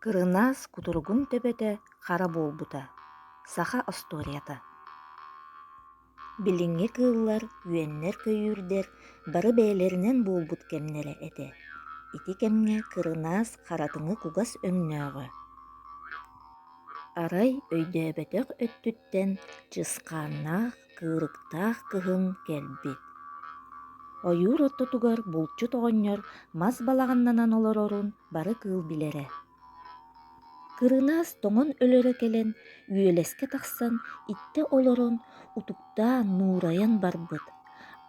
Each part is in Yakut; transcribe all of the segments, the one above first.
Кырынаас кутуругун төбөтө хара буолбута, саха остуоруйата. Билиҥҥи кыыллар, үөннэр-көйүүрдэр бары бэйэлэринэн буолбут кэмнэрэ этэ. Ити кэмҥэ кырынаас харатыҥы кугас өҥнөөҕө. Арай өйдөөбөтөх өттүттэн чысхааннаах Кыырыктаах кыһын кэлбит. Ойуур ортотугар булчут оҕонньор мас балаҕаннанан олорорун бары кыыл билэрэ. Кырынаас тоҥон өлөрө кэлэн үөлэскэ тахсан иттэ олорон утуктаан нуурайан барбыт.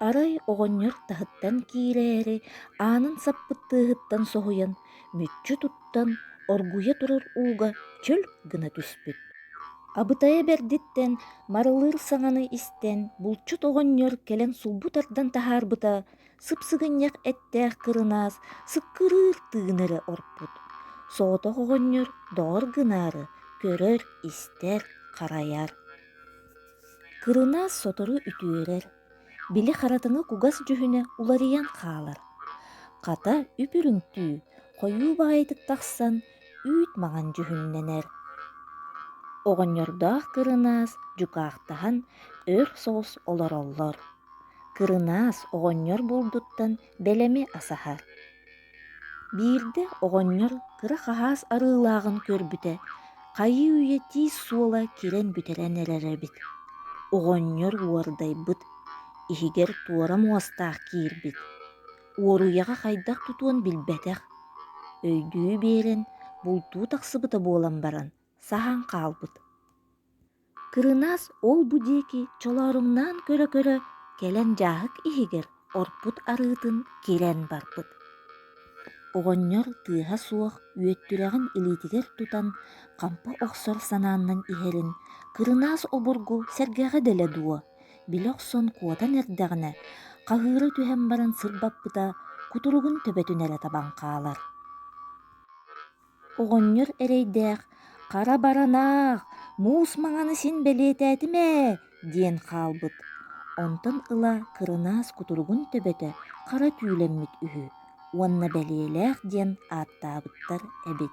Арай оҕонньор таһыттан киирээри аанын саппыттыыһыттан соһуйан мүччү туттан оргуйа турар ууга чөл гына түспүт. Абытайа бэрдиттэн Марылыыр саҥаны истэн булчут оҕонньор кэлэн сулбу тардан таһаарбыта сыпсыгынньах эттээх кырынаас сыккырыыр тыын эрэ орпут. Соҕотох оҕонньор доҕор гынаары көрөр, истэр, харайар. Кырынаас сотору үтүөрэр, Били харатыҥа кугас дьүһүнэ уларыйан хаалар. Хата үп-үрүҥтүү, хойуу баайытык тахсан үүт маҥан дьүһүннэнэр. Оҕонньордоох кырынаас дьукаахтаһан өр соҕус олороллор. Кырынаас оҕонньор буолбуттан бэлэми асаһар. Биирдэ оҕонньор кыра хаһаас арыылааҕын көрбүтэ, хайыы-үйэ тиис суола кирэн бүтэрэн эрэр эбит. Оҕонньор уордайбыт, иһигэр туора муостаах киирбит. Уоруйаҕа хайдах тутуон билбэтэх. Өйдүү биэрэн, бултуу тахсыбыта буолан баран, саһан хаалбыт. Кырынаас ол-бу диэки чолооруҥнаан көрө-көрө кэлэн дьааһык иһигэр орпут арыытын кирэн барбыт. Оҕонньор тыаһа суох үөттүрэҕин илиитигэр тутан хампа охсор санааннан иһэрин Кырынаас обургу сэргэҕэ дэлэ дуо, били охсон куотан эрдэҕинэ, хаһыыра түһэн баран сырбаппыта кутуругун төбөтүн эрэ табан хаалар. Оҕонньор эрэйдээх «Хара баранаах, муус маҥаны син бэлиэтээтим ээ» диэн хаалбыт. Онтон ыла кырынаас кутуругун төбөтө хара түүлэммит үһү уонна бэлиэлээх диэн ааттаабыттар эбит